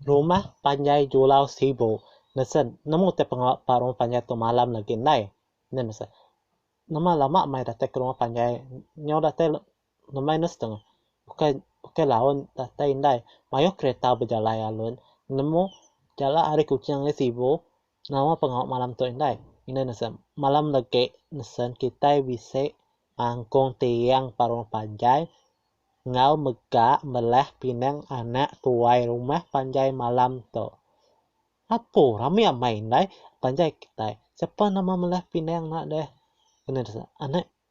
Rumah panjai Julau Sibu nesen nemu te pengawa pa rumah panjai tu malam agi ndai. Neh nesen. Nama lama meh datai ke rumah panjai nyau datai Ngemai ne setengah. Ukai ukai laun datai indai. Mayuh kereta bejalai alun nemu jalak ari Kuching ari Sibu nama pengawa malam tu indai. Indai ne seh malam legi nesen kitai bisi ngangkung tiang ba rumah panjai enggau mega mbelah pinang anak tuai rumah panjai malam tu. Apo rami amai indai panjai kitai. Sapa nama mbelah pinang enda deh. Indai ne seh anak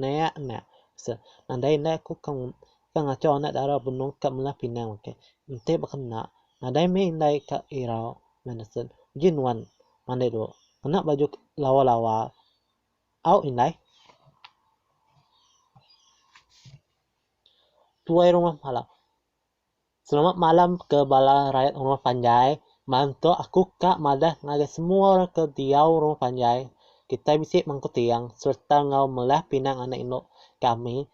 Nayak enda. Asel nadai enda aku ke ke ngacho anak dara benung ka melah pinang okey. Enti ba kena nadai meh indai ka irau meh nasel. Uji nuan mandai dulu. Kena baju lawa-lawa au indai. Tuai rumah malam. Selamat malam ke bala rayat rumah panjai, mantuk aku ka madah ngagai semua orang ke diau rumah panjai kitai bisi mangku tiang sereta enggau melah pinang anak indu kami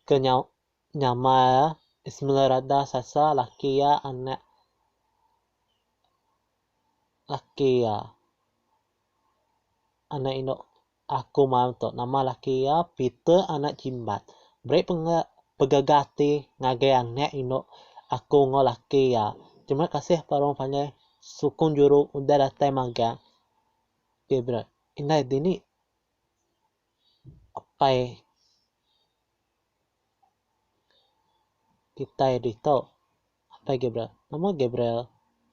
ke nyau nyama iya Ismelarada Sasa laki iya anak laki iya anak indu. Aku mantu nama laki iya Peter anak Jimbat. Beri penge pegega ati ngagai anak indu aku enggau laki iya. Terima kasih Parong panjai sukung juru udah datai magang. Favourite. Indai dini apai kitai ditu. Apai Gabriel, Nama Gabriel?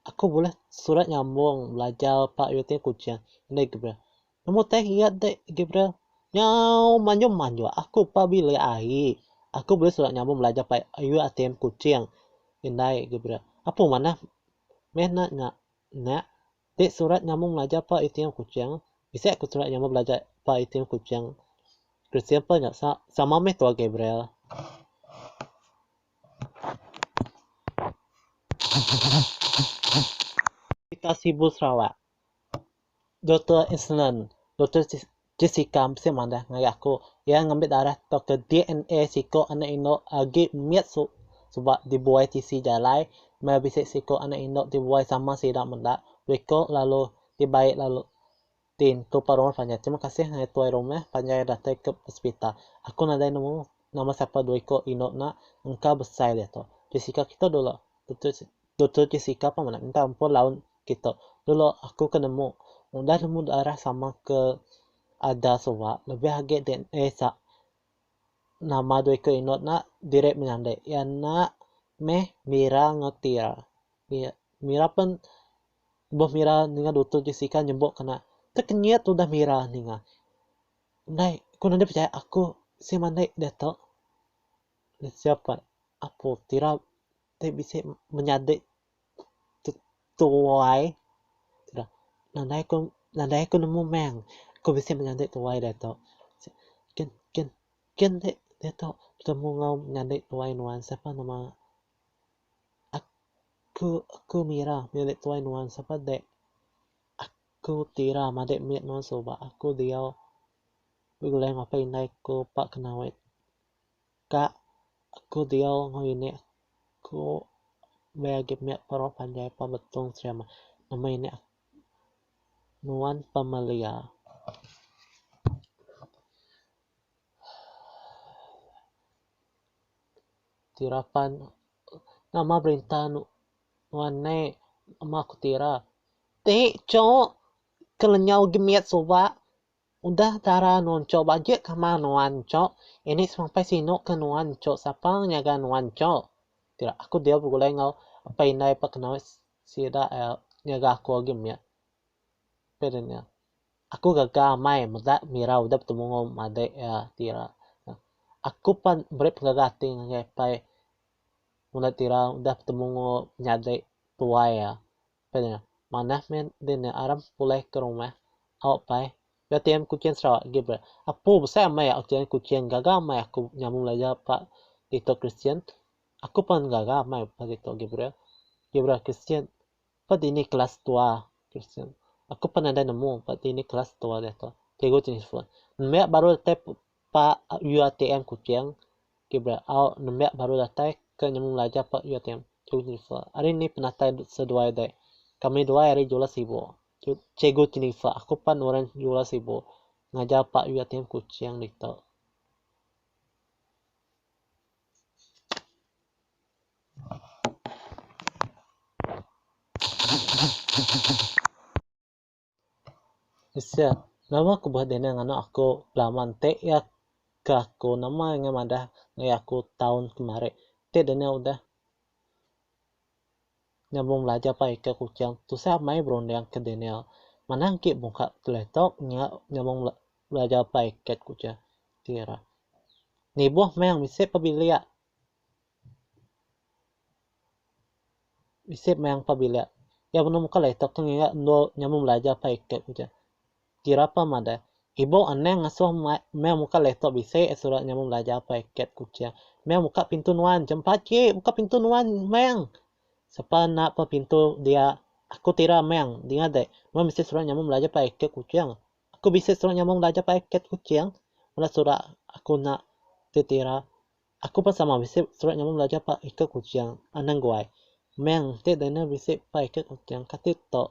Aku bulih surat nyambung belajar pa UiTM Kuching. Indai Gabriel, Nama tank iya dek Gabriel? Nya manjung manjung aku pa bilik ai. Aku bulih surat nyambung belajar pa UiTM Kuching. Indai Gabriel, Apo manah meh nak nya? Nya ti surat nyambung belajar pa UiTM Kuching. Bisi aku surat nyambung belajar pa UiTM Kuching. Christian pun nya sama meh tuah Gabriel. Berita Sibu Sarawak, Doktor Island, Doktor Jessica bisi madah ngagai aku iya ngambi darah tauka DNA siko anak indu agi mit suba dibuai tisi jalai meh bisi siko anak indu dibuai sama sida meda wiko lalu dibai lalu. Din, tu pa rumah panjai. Terima kasih ngagai tuai rumah panjai datai ke pesepita. Aku nadai nemu nama sapa dua iko inu ena engka besai diatu. Jessica kitu dulu. Doktor Doktor Jessica pa mena minta empu laun kitu. Dulu aku ke nemu. Udah nemu darah sama ke ada suba lebih agi dna sa nama dua iko inu ena diri menyandi iya ena meh Mira enggau Tia. Mira pen Lebuh mira ninga Dutur Jessica nyebok kena, tekenyit tudah mira ninga. Ndai, ku nanda pechaya aku si mandai diatu. Jessica pan, apu tira ti bisi menyadi tu tuai. Tira, nandai ku nandai ku nemu meng ku bisi menyadi tuai diatu. Kin kin kin ti diatu betemu enggau nyadi tuai nuan sapa nama ak. Aku aku mira milik tuai nuan sapa dek aku ti ira madik mit nuan suba aku diau begulai ngapa indai aku pa ke nawit ka aku diau ngini aku beh agi mit pa orang panjai pa betung serem nama ini nuan pa melia. Tira pan. Nama berita nuan ne ama aku ti ira. Ti cuk kelenyau agi mit suba udah tara nuan cuk bagi kama nuan cuk ini sampai sinu ke nuan cuk sapa nyaga nuan cuk ti ira aku deh begulai enggau apai indai pak nau sida nyaga aku agi mit. Aku gaga amai meda Mira udah betemungu madi iya ti ira. Aku pan meri pengaga ati ngagai apai nguna ti ira udah betemungu nyadi tuai iya. Apai nya, manah meh din nya aram pulih ke rumah. Au pai, bia tiyan Kuching Sarawak agi bre. Apu besai amai au tiyan Kuching gaga amai aku nyambung belajar ba ditu Kristian. Aku pan gaga amai ba ditu agi bre. Agi bre Kristian. Ba dini kelas tua Kristian, aku pan nadai nemu ba dini kelas tua diatu Cikgu ti nyebut nembiak baru datai ba UITM Kuching ti beau nembiak baru datai ke nyemu belajar ba UITM. Cikgu ti nyebut ari ni penatai seduai dek, kami duai ari Jula Sibu. Cikgu ti nyebut aku pan orang Jula Sibu ngajar ba UITM Kuching ditu. Sia, nama ku buah dinner nganak aku belama enti iya ke aku nama iya ngah madah ngagai aku taun kemari. Enti dinner udah nyambung belajar pai ke Kuching tusah meh berunding ke dinner. Manah engki muka keleto nya nyambung belajar pai ke Kuching. Niboh meh bisi pa bilik Isip meh ampa bilik. Iya benung muka alai tok tu ngiga endur nyambung belajar apai ke ku ce. Kira pa madah. Ibu anang ngasuh mai meh muka alai tok bisi a surat nyambung belajar apai ke ku ce. Meh muka pintu nuan ce. Pachi buka pintu nuan meng. Sapa enda pa pintu dia aku ti ira meng. Dinga deh. Nuan bisi surat nyambung belajar apai ke ku cheng. Aku bisi surat nyambung belajar apai ke ku cheng. Bala surat aku enda ti ti ira. Aku pun sama bisi surat nyamai belajar ba iko Kuching, Anang Guai. Meng ti dina bisi ba iko Kuching kati tok.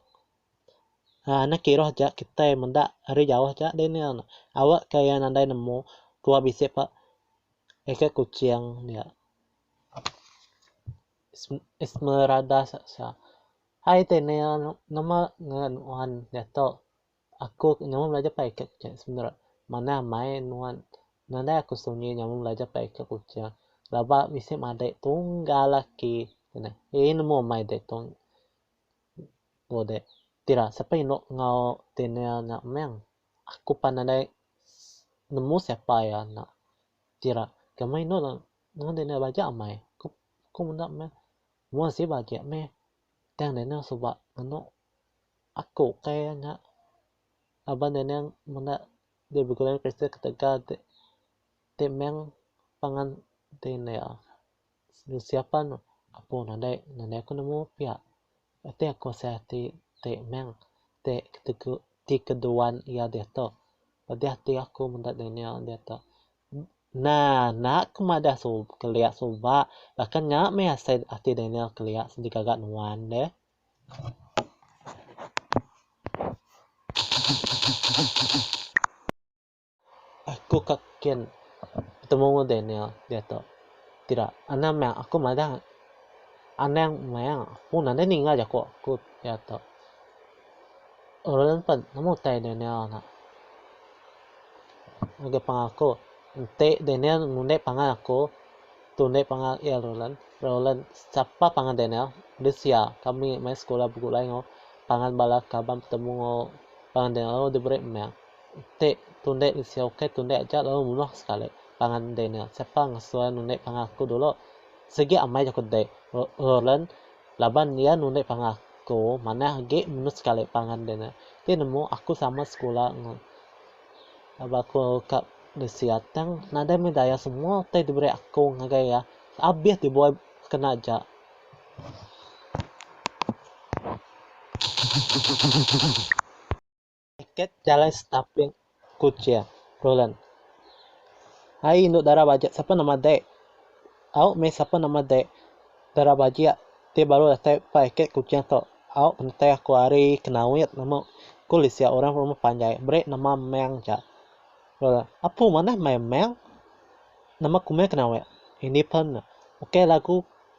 Aa anak kiroh ja kitai meda ari jauh ja dina ne. Awe ka iya nadai nemu dua bisi ba iko Kuching dia. Esmeralda Sasha. Hai dina ne nama ngaran nuan diato. Aku nyaman belajar pai ka Kuching sebenar manah mai nuan nadai aku sunyi nyaman belajar pai ka Kuching laba bisi madai tunggal aki tunah ilmu mai deh tu udeh ti ira sapa indu enggau Daniel nya meng aku pan nadai nemu sapa iya nya ti ira kami inu enggau Daniel baja amai ku menda meh mun sik agi meh Tang Daniel suba ngenu aku ukai nya laban Daniel menda ti begulai orang Kristian ketegal ati ti meng pangan Daniel usia pan aku nadai nadai aku nemu pia enti aku asai ati ti meng ti ketegal ti keduan iya diatu pedeh ati aku meda Daniel diatu Nah, enda ke madah suba kelia suba, baka nya meh asai ati Daniel kelia sidi gaga nuan deh. Aku ka kin betemu enggau Daniel diatu. Sida, anang meh aku madah anang meh pun nadai ninga jaku aku diatu. Orang nempat amu utai Daniel nya. Ngagai pangan aku, enti Daniel ngundi pangan aku, tu undi pangan iya Roland, Roland sapa pangan Daniel deh sia. Kami mai sekula begulai enggau pangan bala kaban betemu enggau pangan Daniel lalu diberi meng. Enti tu undi deh sia ukai tu undi aja lalu munuh sekali pangan Daniel. Sapa ngesuai nundi pangan aku dulu. Sigi amai ku deh Roland. Laban iya nulik pangan aku manah agi menu sekali pangan dia nya. Ti nemu aku sama sekula enggau baka ka Lucia tang nadai meh daya semua utai diberi aku ngagai iya abih ti buai kena aja. Tiket jalai Setapling Kuchia Roland Ai indu dara bajak sapa nama dek Au meh sapa nama dek Dara bajak ti baru datai pa iket Kuchia tu Au pentai aku ari Kenawit nama Ku Lisia orang rumah panjai beri nama Meng ja Roland Apu manah mai Meng Nama ku meh Kenawit Independent Ukai lagu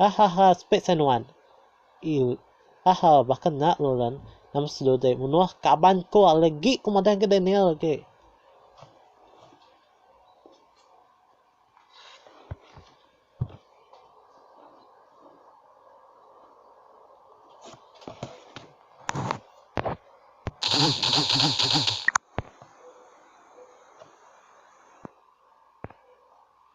Hahaha speak sa nuan. Iu. Haha baka nya Lauren nama slu deh munuh kaban ko legi ko madah ga Daniel agi.